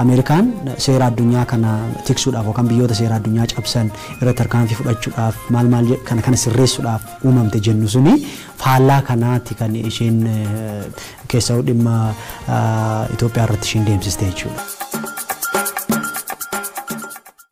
Ameerikaan seera addunyaa kana tiksuudhaaf yookaan biyyoota seera addunyaa cabsan irratti tarkaanfii fudhachuudhaaf maal maal jedh- kana kana sirreessuudhaaf uumamte jennu suni faallaa kanaatti kan isheen eh, keessaa dhimma ah, Itoophiyaa irratti isheen deemsiste jechuudha.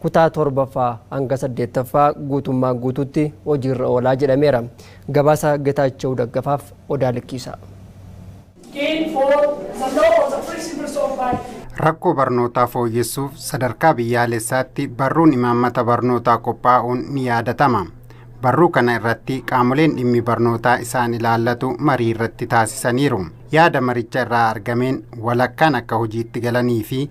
kutaa 7ffaa hanga 8ffaa guutummaan guutuutti hojiirra oolaa jedhameera. Gabaasa Getaachew Daggafaaf Odaa Likkiisaa. gain for the law or the principles of by Rakkoo barnootaa fooyyessuuf sadarkaa biyyaalessaatti barruun imaammata barnootaa qophaa'uun ni yaadatama. Barruu kana irratti qaamoleen dhimmi barnootaa isaan ilaallatu marii irratti taasisaniiru. Yaada maricha irraa argameen walakkaan akka hojiitti galanii fi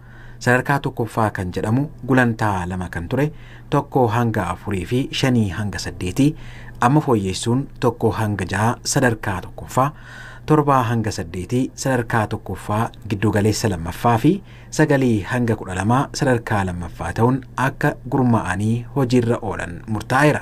Sadarkaa tokkoffaa kan jedhamu gulantaa lama kan ture tokko hanga afurii fi shanii hanga saddeetii amma fooyyeessuun tokko hanga ja'a sadarkaa tokkoffaa, torbaa hanga saddeetii sadarkaa tokkoffaa giddugaleessa lammaffaa fi sagalii hanga kudha lamaa sadarkaa lammaffaa ta'uun akka gurmaa'anii hojiirra oolan murtaa'eera.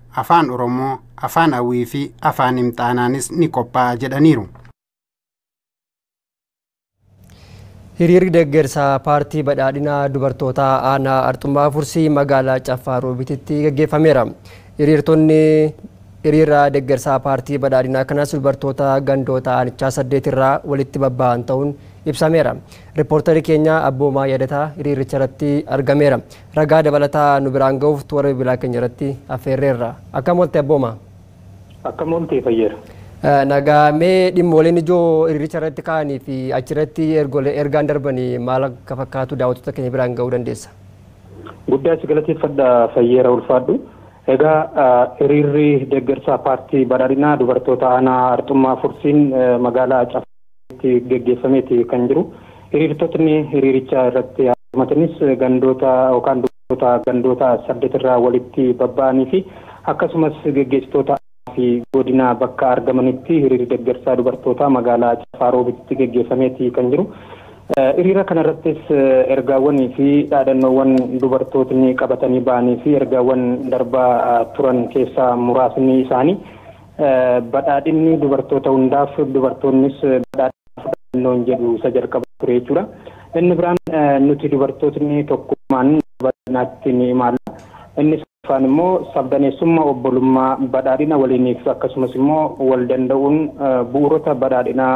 Afaan Oromoo, Afaan Awii fi Afaan Imxaanaanis ni qophaa'a jedhaniiru. Hiriirri deeggarsa paartii badhaadhinaa dubartootaa aanaa Arxummaa Fursii magaalaa Caffaa Roobititti gaggeeffameera. Hiriirtonni hiriira deeggarsaa paartii badhaadhinaa kanas dubartoota gandoota aanichaa saddeet irraa walitti babba'an ta'uun ibsameera. Riippoortarri keenya Abboomaa Yadataa hiriiricha irratti argameera. Ragaa dabalataa nu biraan gahuuf toora bilbilaa keenya irratti affeerreerra. Akkam oolte abbooma? Akkam oolte Fayyeera? Nagaa mee dhimmooleen ijoo hiriiricha irratti ka'anii fi achirratti ergolee ergaan darbanii maal akka fakkaatu daawwattoota keenya biraan gahuu dandeessa? Guddaa si galateeffadha Fayyeera ulfaadhu. Egaa hiriirri deeggarsaa paartii badhaadhinaa dubartoota aanaa Arxummaa Fursiin magaalaa Acaf itti geggeeffameeti kan jiru. Hiriirtotni hiriiricha irratti hirmatanis gandoota yookaan dubartoota gandoota saddet irraa walitti babba'anii fi akkasumas geggeessitoota aanaa fi godinaa bakka argamanitti hiriirri deggersaa dubartootaa magaalaa Caffaa Roobititti geggeeffameeti kan jiru. Hiriira kana irrattis ergaawwanii fi dhaadannoowwan dubartootni qabatanii ba'anii fi ergaawwan darbaa turan keessaa muraasni isaanii Badhaadhinni dubartoota hundaaf, dubartoonnis badhaadhina fudhannoon jedhu isa jalqabaa ture jechuudha. Inni biraan nuti dubartootni tokkummaan badhaadhinaatti ni imaalla. Inni sadaffaan immoo sabdaneessummaa obbolummaa badhaadhina waliiniif akkasumas immoo wal danda'uun bu'uurota badhaadhinaa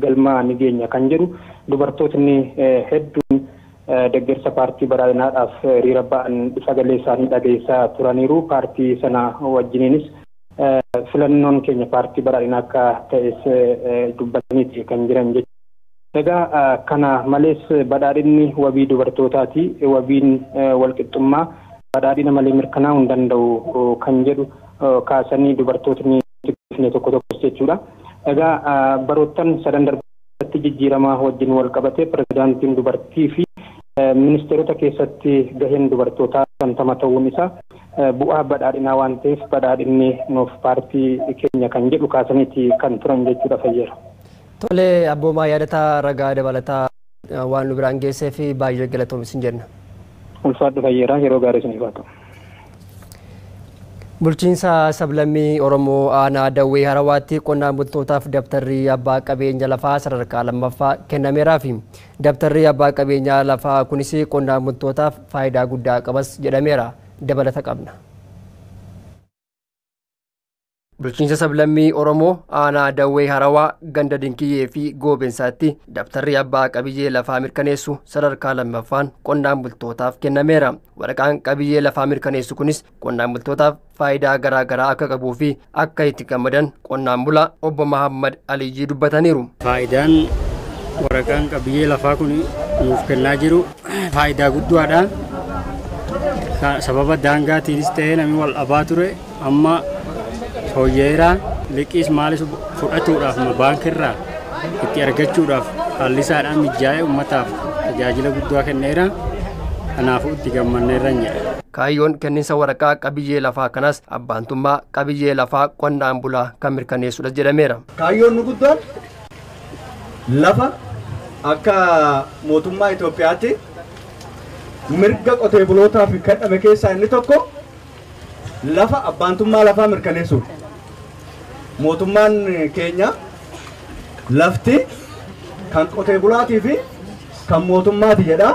galma ni geenya kan jedhu dubartootni hedduun deggersa paartii badhaadhinaadhaaf hiriira ba'an sagalee isaanii dhageessisaa turaniiru. Paartii sana wajjiniinis Filannoon keenya paartii badhaadhinaa akka ta'es dubbataniiti kan jiran jechuudha. Egaa kana malees badhaadhinni wabii dubartootaati, wabiin walqixxummaa badhaadhina malee mirkanaa'uu hin danda'u kan jedhu kaasanii dubartootni dhufne tokko tokkos jechuudha. Egaa baroottan sadan darban Kallattii jijjiiramaa wajjin walqabatee pirezidaantiin dubartii fi ministeerota keessatti gaheen dubartootaa 50 ta'uun isaa bu'aa badhaadhinaa waan ta'eef badhaadhinni nuuf paartii keenya kan jedhu kaasaniiti kan turan jechuudha Fayyeera. Tole Abboomaa Yaadataa ragaa dabalataa waan nu biraan geesseef baay'ee galatoomi sin jenna. Ulfaadhu Fayyeeraa yeroo gaarii isiniif haa ta'u. Bulchiinsa sablammii Oromoo aanaa Dawwee Harawaatti qonnaan bultootaaf dabtarri abbaa qabeenya lafaa sadarkaa lammaffaa kennameeraafi. Dabtarri abbaa qabeenya lafaa kunis qonnaan bultootaaf faayidaa guddaa qabas jedhameera. Dabalata qabna. Bulchiinsa sablammii Oromoo aanaa Dawwee Harawaa ganda Dinkiyyee fi Goobensaatti dabtarri abbaa qabiyyee lafaa mirkaneessu sadarkaa lammaffaan qonnaan bultootaaf kennameera. Waraqaan qabiyyee lafaa mirkaneessu kunis qonnaan bultootaaf faayidaa garaa garaa akka qabuu fi akka itti gammadan qonnaan bulaa obbo Mahaammad Aliyyii dubbataniiru. Faayidaan waraqaan qabiyyee lafaa kun nuuf kennaa jiru faayidaa guddaadha. Sababa daangaatiinis ta'ee namni wal dhabaa ture amma fooyya'eera. Liqiis maalis fudhatuudhaaf baankiirraa itti argachuudhaaf haalli isaadhaan mijaa'ee uummataaf tajaajila guddaa kenneera. Kanaafuu itti gammanneerra jedha. Kaayyoon kenninsa waraqaa qabiyyee lafaa kanas abbaantummaa qabiyyee lafaa qonnaan bulaa kan mirkaneessudha jedhameera. Kaayyoon nu guddoon lafa akka mootummaa Itoophiyaatti mirga qotee bulootaaf kenname keessaa inni tokko lafa abbaantummaa lafaa mirkaneessuudha. Mootummaan keenya lafti kan qotee bulaatii fi kan mootummaati jedha.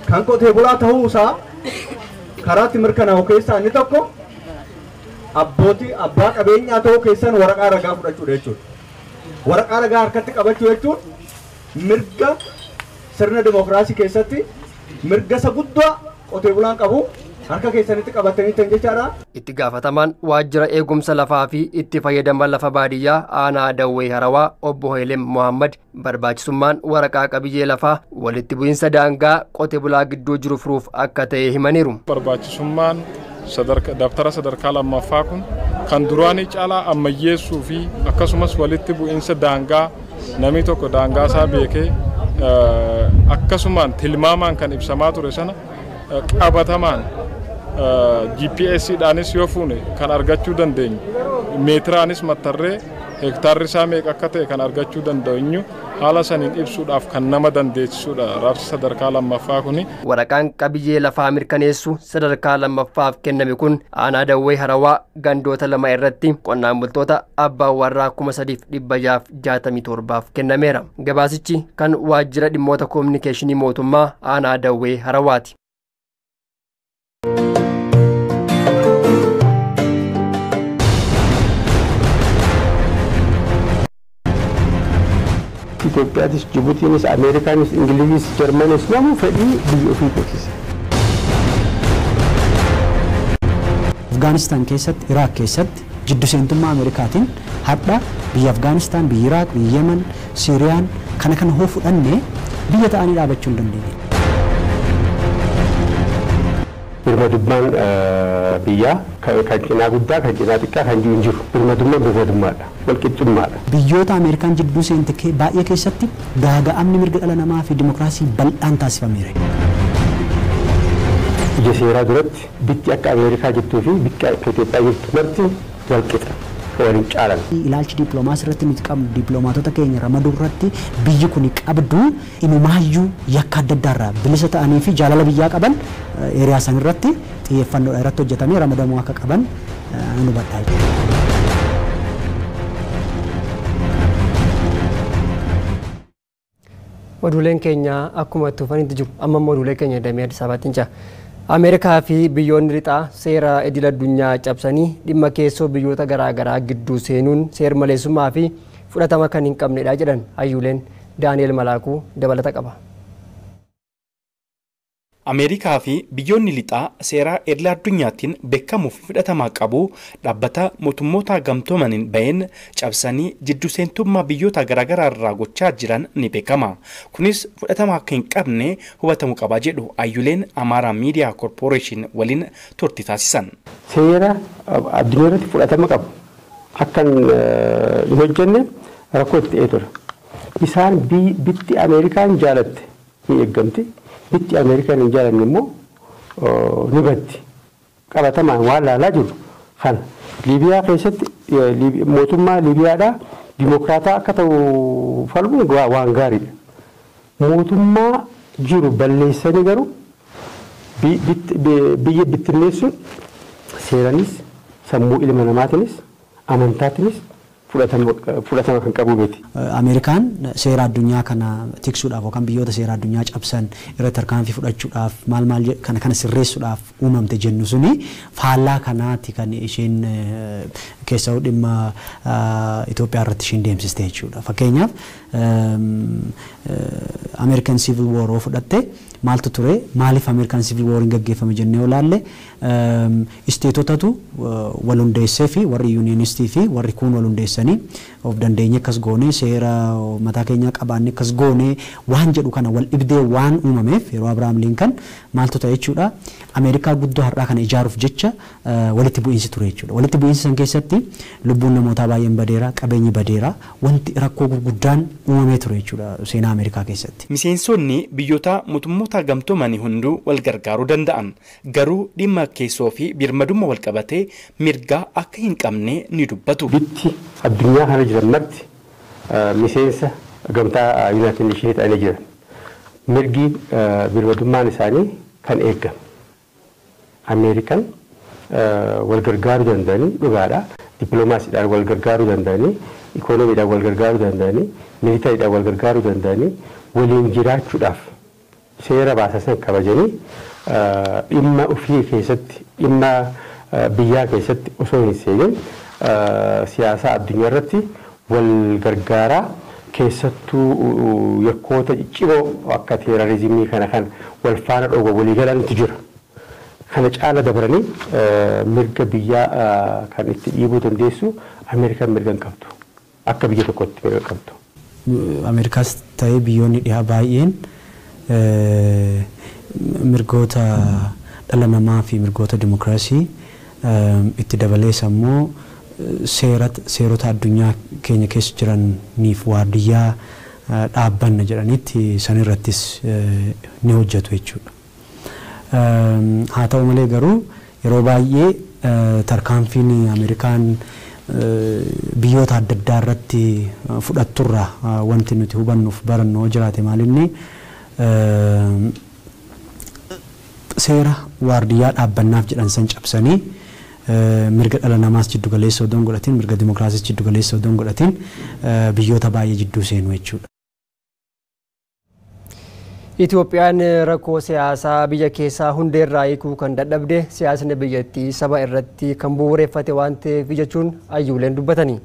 Kan qotee bulaa ta'uu isaa karaatti mirkanaa'u keessaa inni tokko abbootii abbaa qabeenyaa ta'uu keessan waraqaa ragaa fudhachuudha jechuudha. Waraqaa ragaa harkatti qabachuu jechuun mirga sirna dimookiraasii keessatti mirga isa guddaa qotee bulaan qabu harka keessanitti qabatanii ta'an jechaadha. Itti gaafatamaan waajjira eegumsa lafaa fi itti fayyadama lafa baadiyyaa aanaa Dawwee Harawaa obbo Heelem Mohaammed barbaachisummaan waraqaa qabiyyee lafaa walitti bu'iinsa daangaa qote bulaa gidduu jiru furuuf akka ta'e himaniiru. barbaachisummaan dabtara sadarkaa lammaffaa kun kan duraanii caalaa ammayyeessuu fi akkasumas walitti bu'iinsa daangaa namni tokko daangaa isaa beekee akkasumaan tilmaamaan kan ibsamaa ture sana qabatamaan GPS dhaanis yoo fuune kan argachuu dandeenyu meetiraanis mattarree Hektaarri isaa meeqa akka ta'e kan argachuu danda'enyu haala saniin ibsuudhaaf kan nama dandeessisuudha raabsi sadarkaa lammaffaa kuni. Waraqaan qabiyyee lafaa mirkaneessu sadarkaa lammaffaaf kenname kun aanaa Dawwee Harawaa gandoota lama irratti qonnaan bultoota abbaa warraa 3667f kennameera. Gabaasichi kan Waajjira Dhimmoota Kominikeeshinii Mootummaa Aanaa Dawwee Harawaati. Itoophiyaatis, Jibutiinis, Ameerikaanis, Ingiliziis, Jarmanis namuu fedhii biyya ofii beeksise. Afgaanistaan keessatti, Iraaq keessatti Jiddu seentummaa Ameerikaatiin hardha biyyi Afgaanistaan, biyyi Iraaq, biyyi Yemen, Siiriyaan kana kana hoo fudhanne biyya ta'anii dhaabachuu hin dandeenye. Birmadummaan biyyaa kan cinaa guddaa, kan cinaa xiqqaa kan jiru hin jiru. Birmadummaan birmadummaa dha. Walqixxummaa dha. Biyyoota Ameerikaan jidduu seente baay'ee keessatti gaaga'amni mirga dhala namaa fi dimokiraasii bal'aan taasifameera. Ija seeraa duratti Bikki akka Ameerikaa jirtuu fi bikki akka Itoophiyaa jirtu marti wal qixa, wal hin caalan. Ilaalchi dippiloomaasii irratti nuti qabnu dippiloomaatota keenya ramaduu irratti biyyi kuni qabdu inumaayyuu yakka adda addaa irraa bilisa ta'anii fi jaalala biyyaa qaban area san irratti xiyyeeffannoodhaan irratti hojjetamee ramadamuu akka qaban nan hubadha. Oduuleen keenya akkuma itti fufanitti jiru. Amma immoo oduulee keenya damee Addis Ababaatti ce'a. Ameerikaa fi biyyoonni lixaa seera idil addunyaa cabsanii dhimma keessoo biyyoota garaagaraa gidduu seenuun seermaleessummaa fi fudhatama kan hin qabnedha jedhan hayyuuleen. Daani'el Malaakuu dabalata qaba. Ameerikaa fi biyyoonni lixaa seeraa idla addunyaattin bekkamuu fi fudhatamaa qabu dhaabbata mootummootaa gamtoomaniin ba'een cabsanii jiddu seentummaa biyyootaa garaagaraa irraa gochaa jiran ni beekama. Kunis fudhatama akka hin qabne hubatamu qaba jedhu ayyuleen Amaaraa Miidiyaa Korpooreeshin waliin turti taasisan. Seera addunyaa irratti fudhatama qabu akka hin hojjenne rakkoo itti ta'ee ture. Isaan bitti Ameerikaan jaalatte ni eeggamti. Bitti Ameerikaan hin jaalanne immoo ni baddi. Qabatamaan waan laalaa jirru kana. Liibiyaa keessatti mootummaa Liibiyaadhaa dimokiraataa akka ta'u falmuun waan gaariidha. Mootummaa jiru balleessanii garuu biyya bittinneessuun seeranis sammuu ilma namaatinis amantaatinis fudhatama kan qabu miti. Ameerikaan seera addunyaa kana tiksuudhaaf yookaan biyyoota seera addunyaa cabsan irratti tarkaanfii fudhachuudhaaf maal maal kana kana sirreessuudhaaf uumamte jennu suni faallaa kanaati kan isheen keessawuu dhimma Itoophiyaa irratti isheen deemsiste jechuudha. Fakkeenyaaf American Civil War yoo fudhatte maaltu ture maaliif American Civil War hin gaggeeffame jennee yoo ilaalle Isteetotatu wal hundeessee fi warri yuuniyenistii fi warri kuun wal hundeessanii of dandeenyee akkas goonee, seera mataa keenyaa qabaannee akkas goonee waan jedhu kana wal dhibdee waan uumameef yeroo Abrahaam Liinkan maaltu ta'e jechuudha, Ameerikaa guddoo har'aa kana ijaaruuf jecha walitti bu'iinsi ture jechuudha. Walitti bu'iinsa san keessatti lubbuun namootaa baay'een badeera, qabeenyi badeera, wanti rakkoo gurguddaan uumamee ture jechuudha seenaa Ameerikaa keessatti. Miseensonni biyyoota Motummootaa Gamtoomanii hunduu wal gargaaruu danda'an. Garuu dhimma keessoo fi birmadumma walqabatee mirgaa akka hin qabne ni dubbatu. Bitti addunyaa kana jiran marti miseensa gamtaa Yunaayitid Neeshinii ta'anii jiran. Mirgi birmadummaan isaanii kan eegame. Ameerikan walgargaaruu danda'anii dhugaadha. Dippilomaasiidhaan walgargaaruu danda'anii, ikoonomiidhaan walgargaaruu danda'anii, militariidhaan walgargaaruu danda'anii waliin jiraachuudhaaf seera baasasan kabajanii dhimma ufii keessatti dhimma biyyaa keessatti osoo hin seenin siyaasaa addunyaa irratti wal gargaaraa keessattuu yakkoota ciccimoo akka teerarizimii kana kan wal faana dhooba walii galantu jira. Kana caala dabranii mirga biyyaa kan itti dhiibuu dandeessu Ameerikan mirga hin qabdu. akka biyya tokkootti fedha qabdu. Ameerikaas ta'ee biyyoonni dhihaa baay'een mirgoota dhala namaa fi mirgoota dimokiraasii itti dabalees ammoo seera seerota addunyaa keenya keessa jiraniif waardiyyaa dhaabbanna jedhanitti sanirrattis ni hojjatu jechuudha. Haa ta'u malee garuu yeroo baay'ee tarkaanfiin Ameerikaan biyyoota adda addaa irratti fudhattu irraa wanti nuti hubannu fi barannu yoo jiraate maal inni seera waardiyyaa dhaabbannaaf jedhan san cabsanii mirga dhala namaas jiddu galeessa odoo hin godhatin, mirga dimokiraasiis jiddu galeessa odoo hin godhatin biyyoota baay'ee jidduu seenu jechuudha. Itoophiyaan rakkoo siyaasaa biyya keessaa hundeerraa hiikuu kan dadhabde siyaasni biyyattii saba irratti kan bu'uureffate waan ta'eef jechuun ayyuuleen dubbatani.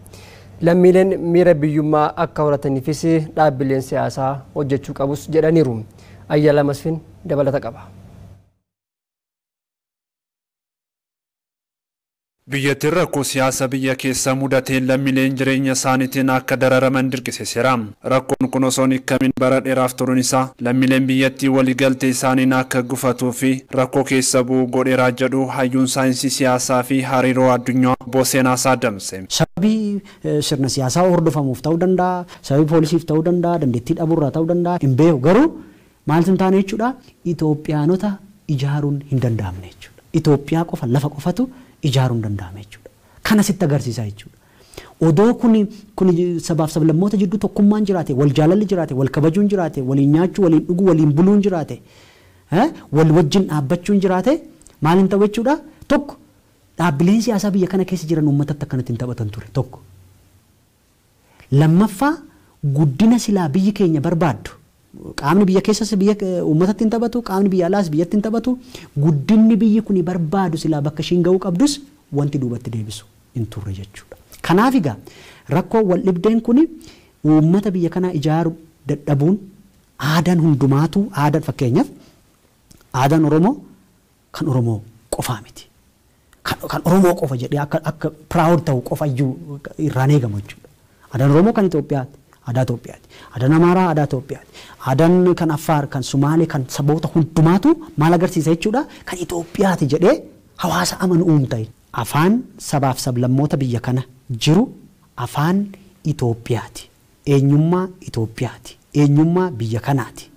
Lammiileen miira biyyummaa akka horataniifis dhaabbileen siyaasaa hojjechuu qabus jedhaniiru. Ayyala Masfin dabalata qaba. Biyyattiin rakkoo siyaasa biyya keessa mudateen lammileen jireenya isaaniitiin akka dararaman dirqisiseera. Rakkoon kun osoo hin hikkamin bara dheeraaf turuun isaa lammileen biyyattii wali galtee isaaniin akka gufatuu fi rakkoo keessa bu'u godheera jedhu hayyuun saayinsii siyaasaa fi hariiroo addunyaa obbo Seenaasaa Damse. Sababii sirna siyaasaa hordofamuuf ta'uu danda'a, sababii poolisiif ta'uu danda'a, dandeettii dhabuu irraa ta'uu danda'a hin beeku garuu, Maaltu hin taane jechuudha? Itoophiyaanota ijaaruun hin danda'amne jechuudha. Itoophiyaa qofa, lafa qofatu ijaaruun danda'ame jechuudha. Kana sitti agarsiisa jechuudha. Odoo kun kun sabaaf sablammoota jidduu tokkummaan jiraate, wal jaalalli jiraate, wal kabajuun jiraate, waliin nyaachuu, waliin dhuguu, waliin buluun jiraate, wal wajjin dhaabbachuun jiraate maal hin ta'u jechuudha? Tokko dhaabbileen siyaasaa biyya kana keessa jiran uummatatti akkanatti hin taphatan ture. Tokko. Lammaffaa guddina silaa biyyi keenya barbaaddu, qaamni biyya keessas biyya uummatatti hin taphatu, qaamni biyya alaas biyyatti hin taphatu, guddinni biyyi kuni barbaadu silaa bakka ishiin ga'uu qabdus wanti duubatti deebisu hin turre jechuudha. Kanaaf egaa rakkoon waldhibdeen kuni uummata biyya kanaa ijaaru dadhabuun aadaan hundumaatuu aadaan fakkeenyaaf aadaan Oromoo kan Oromoo qofaa miti. Kan kan Oromoo qofa jedhee akka akka proud ta'u qofa iyyuu irraan eegamu jechuudha. Aadaan Oromoo kan Itoophiyaati. Aadaa Itoophiyaati. Aadaan Amaaraa aadaa Itoophiyaati. Aadaan kan Affaar, kan Sumaalee, kan saboota hundumaatu maal agarsiisa jechuudha? Kan Itoophiyaati jedhee hawaasa amanu uumta. Afaan sabaaf sablammoota biyya kana jiru afaan Itoophiyaati. eenyummaa Itoophiyaati, eenyummaa biyya kanaati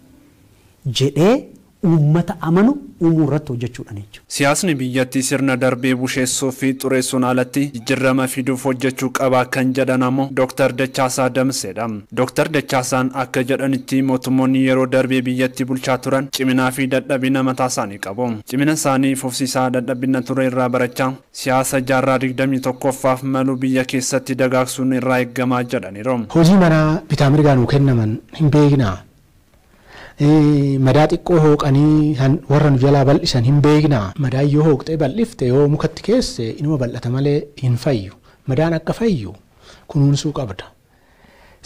jedhee uummata amanu uumuu irratti hojjechuudha ni. Siyaasni biyyatti sirna darbee busheessuu fi xureessuun alatti jijjirrama fiduuf hojjechuu qaba kan jedhan ammoo Doktar Dachaasaa Damseedha. Doktar Dachaasaan akka jedhanitti mootummoonni yeroo darbee biyyatti bulchaa turan ciminaa fi dadhabina mataasaanii qabu. Cimina isaanii fufsiisaa dadhabbinna ture irraa barachaa, Siyaasa jaarraa 21ffaaf malu biyya keessatti dagaagsuun nu irraa eeggama jedhaniiru. Hojii manaa bitaa mirgaa nuu kennaman hin beeknaa? Madaa xiqqoo hooqanii kan warra nu jalaa bal'isan hin beeknaa? Madaan yoo hooqxee bal'ifte yoo mukatti keesse inuma bal'ata malee hin fayyu. Madaan akka fayyu kunuunsuu qabda.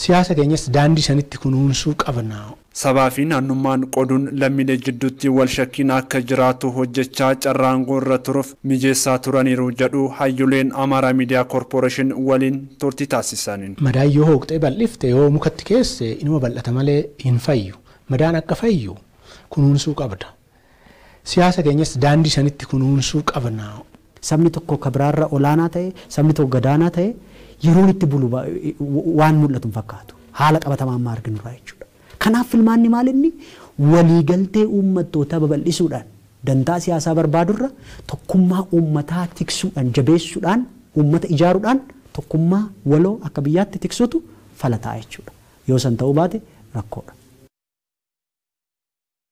Siyaasa keenyas daandii sanitti kunuunsuu qabna. Sabaa fi naannummaan qoduun lammiilee jidduutti wal shakkiin akka jiraatu hojjechaa carraa aangoo irra turuuf mijeessaa turaniiru jedhu hayyuleen Amaaraa Miidiyaa Korporeeshin waliin turtii taasisaniin. Madaan yoo hooqxee bal'ifte yoo mukatti keesse inuma bal'ata malee hin fayyu. Madaan akka fayyu kunuunsuu qabda. Siyaasa keenyas daandii sanitti kunuunsuu qabna. Sabni tokko ka biraarra olaanaa ta'e, sabni tokko gadaanaa ta'e yeroon itti bulu waan mul'atu hin fakkaatu. Haala qabatamaa amma arginurraa jechuudha. Kanaaf filmaanni maalinni waliigaltee uummattootaa babal'isuudhaan, dantaa siyaasaa barbaadurra tokkummaa uummataa tiksuudhaan, jabeessuudhaan, uummata ijaaruudhaan tokkummaa waloo akka biyyaatti tiksuutu fala ta'a jechuudha. Yoo san ta'uu baate rakkoodha.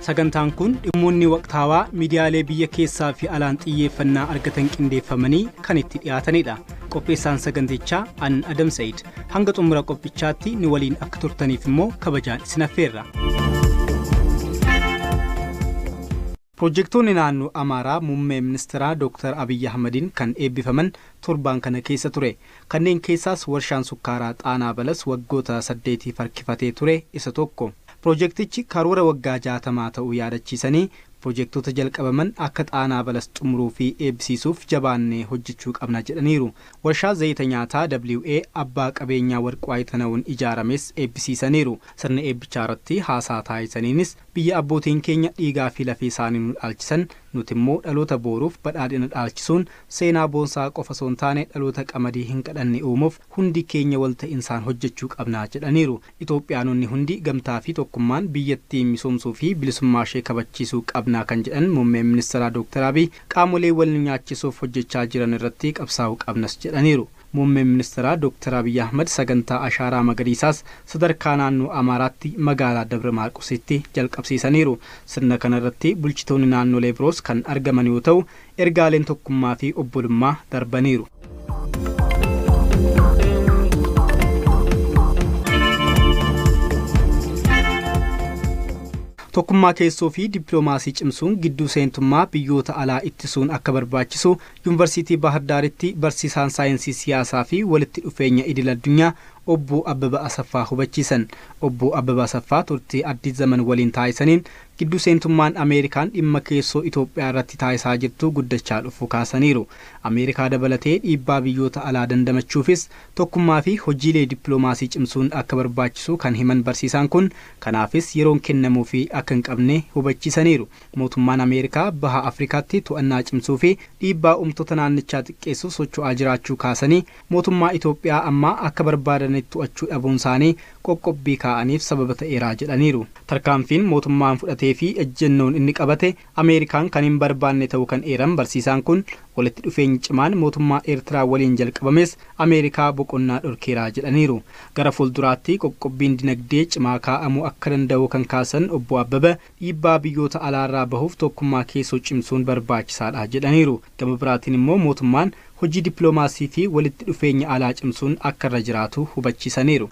Sagantaan kun dhimmoonni waqtaawaa miidiyaalee biyya keessaa fi alaan xiyyeeffannaa argatan qindeeffamanii kan itti dhiyaatanidha. Qopheessaan sagantichaa an Adam Sa'id. Hanga xumura qophichaatti nu waliin akka turtaniif immoo kabajaan isin affeerra. Pirojektoonni naannoo Amaaraa muummee ministeeraa Dooktar Abiyyi Ahmadiin kan eebbifaman torbaan kana keessa ture. Kanneen keessaas warshaan sukkaaraa Xaanaa Balas waggoota saddeetiif harkifatee ture isa tokko. Pirojektichi karoora waggaa jaatamaa ta'uu yaadachiisanii, pirojektoota jalqabaman akka Xaanaa Balas xumuruu fi eebbisiisuuf jabaannee hojjechuu qabna jedhaniiru. Warshaa zayita nyaataa WA abbaa qabeenyaa Warquu Aytanawuun ijaarames eebbisiisaniiru. Sirna eebbichaarratti haasaa taasisaniinis, Biyya abbootiin keenya dhiigaa fi lafee isaanii nu dhaalchisan, nuti immoo dhaloota booruuf badhaadhina dhaalchisuun seenaa boonsaa qofa osoo hin taane dhaloota qamadii hin qadhanne uumuuf hundi keenya wal ta'insaan hojjechuu qabna jedhaniiru. Itoophiyaanonni hundi gamtaa fi tokkummaan biyyattii misoomsuu fi bilisummaa ishee kabachiisuu qabna kan jedhan Muummeen Ministiraa Dooktar Abiy, qaamolee wal nu nyaachisuuf hojjechaa jiran irratti qabsaa'uu qabnas jedhaniiru. Muummeen Ministiraa Dooktar Abiyyi Ahmad sagantaa Ashaaraa Magariisaas sadarkaa naannoo Amaaraatti magaalaa Dabra Maarqositti jalqabsiisaniiru. Sirna kana irratti bulchitoonni naannolee biroos kan argaman yoo ta'u, ergaaleen tokkummaa fi obbolummaa darbaniiru. Tokkummaa keessoo fi dippiloomaasii cimsuun gidduu seentummaa biyyoota alaa ittisuun akka barbaachisu Yunvarsiitii Baahir Daaritti barsiisaan saayinsii siyaasaa fi walitti dhufeenya idil addunyaa Obbo Abbaba Asaffaa hubachiisan. Obbo Abbaba Asaffaa turtii Addis Zaman waliin taasisaniin giddu seentummaan Ameerikaan dhimma keessoo Itoophiyaa irratti taasisaa jirtu guddachaa dhufuu kaasaniiru. Ameerikaa dabalatee dhiibbaa biyyoota alaa dandamachuufis tokkummaa fi hojiilee dippiloomaasii cimsuun akka barbaachisu kan himan barsiisaan kun, kanaafis yeroon kennamuufii akka hin qabne hubachiisaniiru. Mootummaan Ameerikaa Baha Afrikaatti to'annaa cimsuu fi dhiibbaa uumtota naannichaa xiqqeessuuf socho'aa jiraachuu kaasanii, mootummaa Itoophiyaa ammaa akka barbaadanitti to'achuu dhabuunsaanii qoqqobbii kaa'aniif sababa ta'eera jedhaniiru. Tarkaanfiin mootummaan fudhatee fi ejjennoon inni qabate Ameerikaan kan hin barbaanne ta'uu kan eeran barsiisaan kun, walitti dhufeenyi cimaan mootummaa Eertiraa waliin jalqabames Ameerikaa boqonnaa dhorkeera jedhaniiru. Gara fuulduraatti qoqqobbiin dinagdee cimaa kaa'amuu akka danda'u kan kaasan Obbo Abbabaa, Dhiibbaa biyyoota alaarraa bahuuf tokkummaa keessoo cimsuun barbaachisaadha jedhaniiru. Gama biraatiin immoo mootummaan hojii dippiloomaasii fi walitti dhufeenya alaa cimsuun akka irra jiraatu hubachiisaniiru.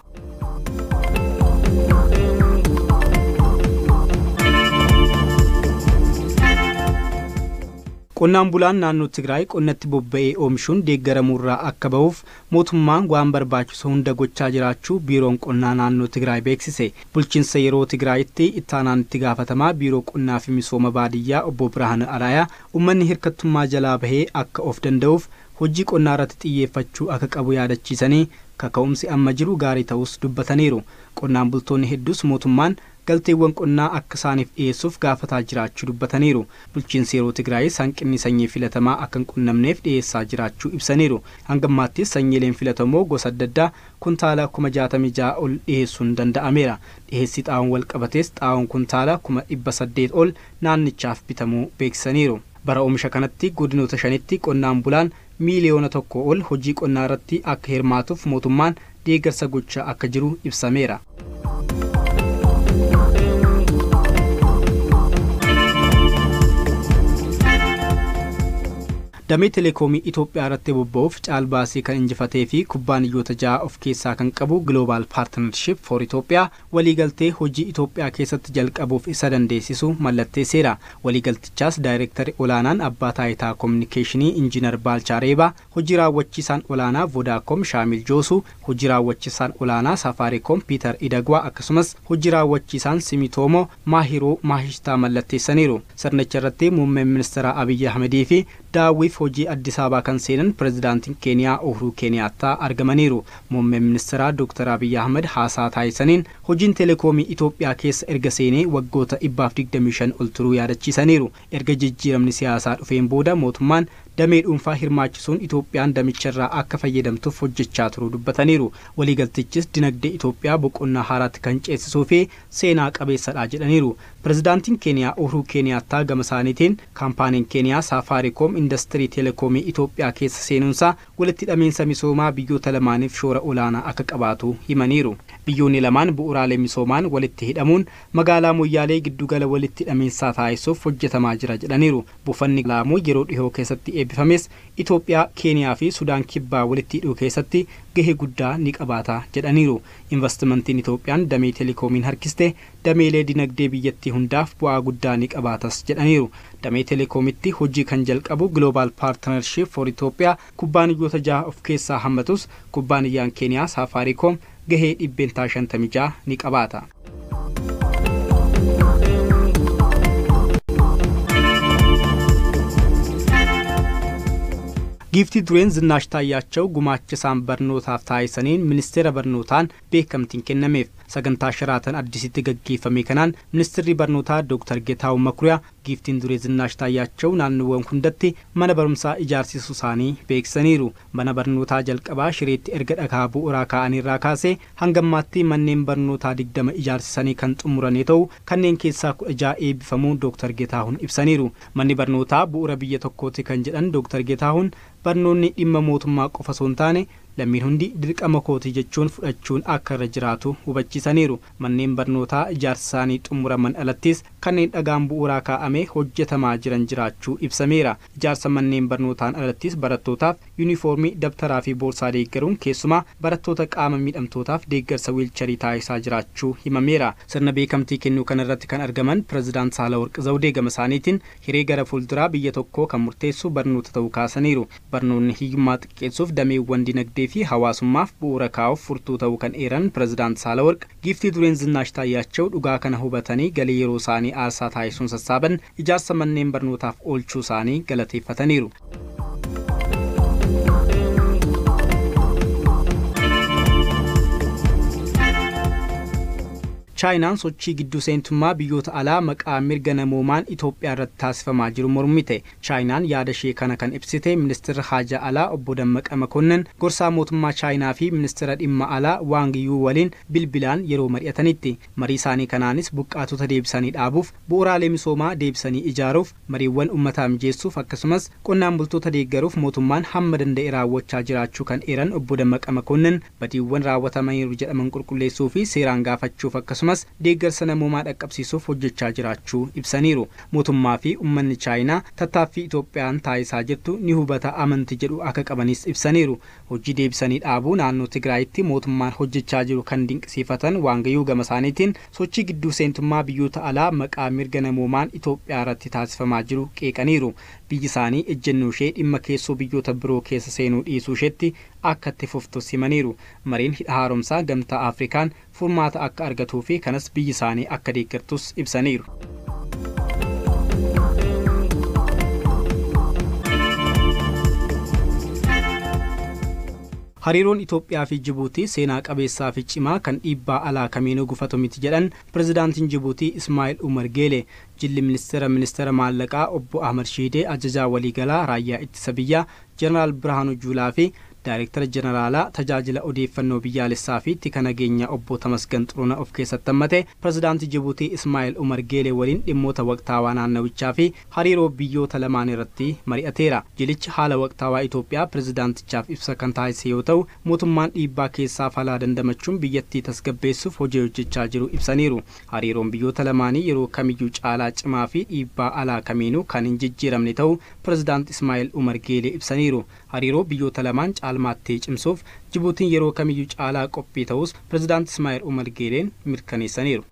Qonnaan bulaan naannoo Tigraay qonnatti bobba'ee oomishuun deeggaramuurraa akka bahuuf Mootummaan waan barbaachisu hunda gochaa jiraachuu Biiroon Qonnaa Naannoo Tigraay beeksise. Bulchiinsa yeroo Tigraayitti Ittaanaan Itti Gaafatamaa Biiroo Qonnaa fi Misooma Baadiyyaa Obbo Birhaanuu Araayaa ummanni hirkattummaa jalaa bahee akka of danda'uuf hojii qonnaarratti xiyyeeffachuu akka qabu yaadachiisanii kaka'umsi amma jiru gaarii ta'uus dubbataniiru. Qonnaan bultoonni hedduus mootummaan galteewwan qonnaa akka isaaniif dhiyeessuuf gaafataa jiraachuu dubbataniiru. Bulchiinsi yeroo Tigraayis hanqinni sanyii filatamaa akka hin qunnamneef dhiyeessaa jiraachuu ibsaniiru. Hanga ammaattis sanyiileen filatamoo gosa adda addaa kuntaala kuma 66 ol dhiyeessuun danda'ameera. Dhiyeessii xaa'oon walqabatees xaa'oon kuntaala kuma 800 ol naannichaaf bitamuu beeksisaniiru. Bara omisha kanatti godinoota shanitti qonnaan bulaan miiliyoona tokkoo ol hojii qonnaa irratti akka hirmaatuuf mootummaan deeggarsa gochaa akka jiru ibsameera. Damee Telekoomii Itoophiyaa irratti bobba'uuf caalbaasii kan injifatee fi kubbaaniyyoota ja'a of keessaa kan qabu Global Partnership for Ethiopia Waliigaltee hojii Itoophiyaa keessatti jalqabuuf isa dandeessisu mallatteesseera. Waliigaltichaas Daayreektari Olaanaan Abbaa Taayitaa Kominikeeshinii Injiinar Baalchaa Reebaa, Hojii Raawwachiisaan Olaanaa Vodaacom Shaamil Joosuu, Hojii Raawwachissaan Olaanaa Safaariikoom Piitar Idagwaa akkasumas Hojii Raawwachiisaan Simitoomo Maahiruu Maahishtaa mallatteessaniiru. Sirnicha irratti Muummeen Ministiraa Abiyyi Ahmedii fi daawwiif hojii Addisaabaa kan seenan Pirezidaantiin Keeniyaa Uhuruu Keeniyaattaa argamaniiru. Muummeen Ministiraa Dooktar Abiy Ahmad haasaa taasisaniin, hojiin Telekoomii Itoophiyaa keessa erga seenee waggoota 125 ol turuu yaadachiisaniiru. Erga jijjiiramni siyaasaa dhufeen booda mootummaan damee dhuunfaa hirmaachisuun Itoophiyaan damicharraa akka fayyadamtuuf hojjechaa turuu dubbataniiru. Waliigaltichis dinagdee Itoophiyaa boqonnaa haaraatti kan ceesisuufi seenaa qabeessadha jedhaniiru. Pirezidaantiin Keeniyaa Uhruu Keeniyaattaa gamasaaniitiin, kaampaaniin Keeniyaa Saafaariikoom indastirii Telekoomii Itoophiyaa keessa seenuunsaa walitti hidhamiinsa misoomaa biyyoota lamaaniif shoora olaanaa akka qabaatu himaniiru. Biyyoonni lamaan bu'uuraalee misoomaan walitti hidhamuun magaalaa Moyyaalee giddugala walitti hidhamiinsaa taasisuuf hojjetamaa jira jedhaniiru. Buufanni Laamuu yeroo dhihoo keessatti eebbifames Itoophiyaa, Keeniyaa fi Sudaan Kibbaa walitti hidhuu keessatti gahee guddaa ni qabaata jedhaniiru. Invastimantiin Itoophiyaan damee Telekoomiin harkiste dameelee dinagdee biyyattii hundaaf bu'aa guddaa ni qabaatas jedhaniiru. Damee Telekoomitti hojii kan jalqabu Global Partnership for Ethiopia kubbaaniyyoota jaha of keessaa hammatus kubbaaniyyaan Keeniyaa Saafaariikoom gahee %56 ni qabaata. Giiftii Dureen Zinnaash Taayyaachaw gumaacha isaan barnootaaf taasisaniin Ministeera Barnootaan beekamtiin kennameef. Sagantaa Sharaatan Addisitti gaggeeffame kanaan Ministirri Barnootaa Dooktar Getaahu Makuriyaa Giiftiin Duree Zinnaash Taayyaachaw naannoowwan hundatti mana barumsaa ijaarsisuusaanii beeksisaniiru. Mana barnootaa jalqabaa Shireetti erga dhakaa bu'uraa kaa'aniirraa kaasee hangammaatti manneen barnootaa 20 ijaarsisanii kan xumurane ta'u kanneen keessaa 16 eebbifamuu Dooktar Getaahun ibsaniiru. Manni barnootaa bu'ura biyya tokkooti kan jedhan Dooktar Getaahun barnoonni dhimma mootummaa qofa osoo hin taane lammiin hundi dirqama kooti jechuun fudhachuun akka irra jiraatu hubachiisaniiru. Manneen barnootaa ijaarsisaanii xumuraman alattis kanneen dhagaan bu'uuraa kaa'amee hojjetamaa jiran jiraachuu ibsameera. Ijaarsa manneen barnootaan alattis barattootaaf yunifoormii, dabtaraafi boorsaa deeggaruun keessumaa barattoota qaama miidhamtootaaf deeggarsa wiilcharii taasisaa jiraachuu himameera. Sirna beekamtii kennuu kanarratti kan argaman Pirezidaant Saahlaworq Zawdee gamasaaniitiin, Hiree gara fuulduraa biyya tokkoo kan murteessu barnoota ta'uu kaasaniiru. Barnoonni hiyyummaa xiqqeessuuf dameewwan dinagdee fi hawaasummaaf bu'uura kaa'uuf furtuu ta'uu kan eeran Pirezidaant Saalawarq, Giiftii Dureen Zinnaash Taayyaachaw dhugaa kana hubatanii galii yeroosaanii aarsaa taasisuun sassaaban ijaarsa manneen barnootaaf oolchuusaanii galateeffataniiru. Chaayinaan sochii gidduu seentummaa biyyoota alaa maqaa mirga namoomaan Itoophiyaarratti taasifamaa jiru mormite. Chaayinaan yaada ishee kana kan ibsite Ministirri Haajaa Alaa Obbo Dammaqa Makonnin gorsaa mootummaa Chaayinaa fi Ministira Dhimma Alaa Waang Yuu waliin bilbilaan yeroo mari'atanitti. Marii isaanii kanaanis buqqaatota deebisanii dhaabuuf, bu'uuraalee misoomaa deebisanii ijaaruuf, mariiwwan ummataa mijeessuuf akkasumas qonnaan bultoota deeggaruuf mootummaan hamma danda'e raawwachaa jiraachuu kan eeran Obbo Dammaqa Makonnin, badiiwwan raawwatamaniiru jedhaman qulqulleessuu fi seeraan gaafachuuf akkasumas deeggarsa namoomaa dhaqqabsiisuuf hojjechaa jiraachuu ibsaniiru. Mootummaa fi ummanni Chaayinaa tattaaffii Itoophiyaan taasisaa jirtu ni hubata amanti jedhu akka qabanis ibsaniiru. Hojii deebisanii dhaabuu naannoo Tigraayitti mootummaan hojjechaa jiru kan dinqisiifatan Waangayuu gamasaaniitiin, sochii gidduu seentummaa biyyoota alaa maqaa mirga namoomaan Itoophiyaarratti taasifamaa jiru qeeqaniiru. Biyyisaanii ejjennooshee dhimma keessoo biyyoota biroo keessa seenuu dhiisuusheetti akka itti fuftus himaniiru. Mariin Hidha Haaromsaa Gamtaa Afrikaan furmaata akka argatuu fi kanas biyyi isaanii akka deeggartus ibsaniiru. Hariiroon Itoophiyaa fi Jibuutii seenaa qabeessaa fi cimaa kan dhiibbaa alaa kamiinuu gufatu miti jedhan Pirezidaantiin Jibuutii Ismaa'il Umar Geelee. Jilli Ministeera Ministeera Maallaqaa Obbo Ahmad Shiidee Ajajaa Waliigalaa Raayyaa Ittisa Biyyaa Jeneraal Birhaanuu Juulaa fi Daayrektara Jeneraalaa Tajaajila Odeeffannoo Biyyaalessaa fi Tika Nageenyaa Obbo Tamasgan Xurunah of keessatti hammate, Pirezidaantii Jibuutii Ismaa'el Umar Geelee waliin dhimmoota waqtaawaa naannawichaa fi hariiroo biyyoota lamaanii irratti mari'ateera. Jilichi haala waqtaawaa Itoophiyaa pirezidaantichaaf ibsa kan taasise yoo ta'u, mootummaan dhiibbaa keessaa falaa dandamachuun biyyattii tasgabbeessuuf hojii hojjechaa jiru ibsaniiru. Hariiroon biyyoota lamaanii yeroo kamiyyuu caalaa cimaa fi dhiibbaa alaa kamiinuu kan hin jijjiiramne ta'uu Pirezidaant Ismaa'il Umar Geelee ibsaniiru. Hariiroo biyyoota lamaan caalmaatti cimsuuf Jibuutiin yeroo kamiyyuu caalaa qophii ta'uus Pirezidaant Ismaa'il Umar Geeleen mirkaneessaniiru.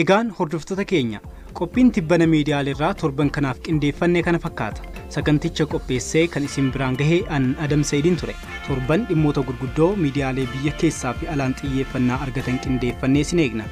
Egaan hordoftoota keenya! Qophiin tibbana miidiyaaleerraa torban kanaaf qindeeffanne kana fakkaata. Saganticha qopheessee kan isin biraan gahe an Adam Sa'idiin ture. Torban dhimmoota gurguddoo miidiyaalee biyya keessaa fi alaan xiyyeeffannaa argatan qindeeffannee isin eegna.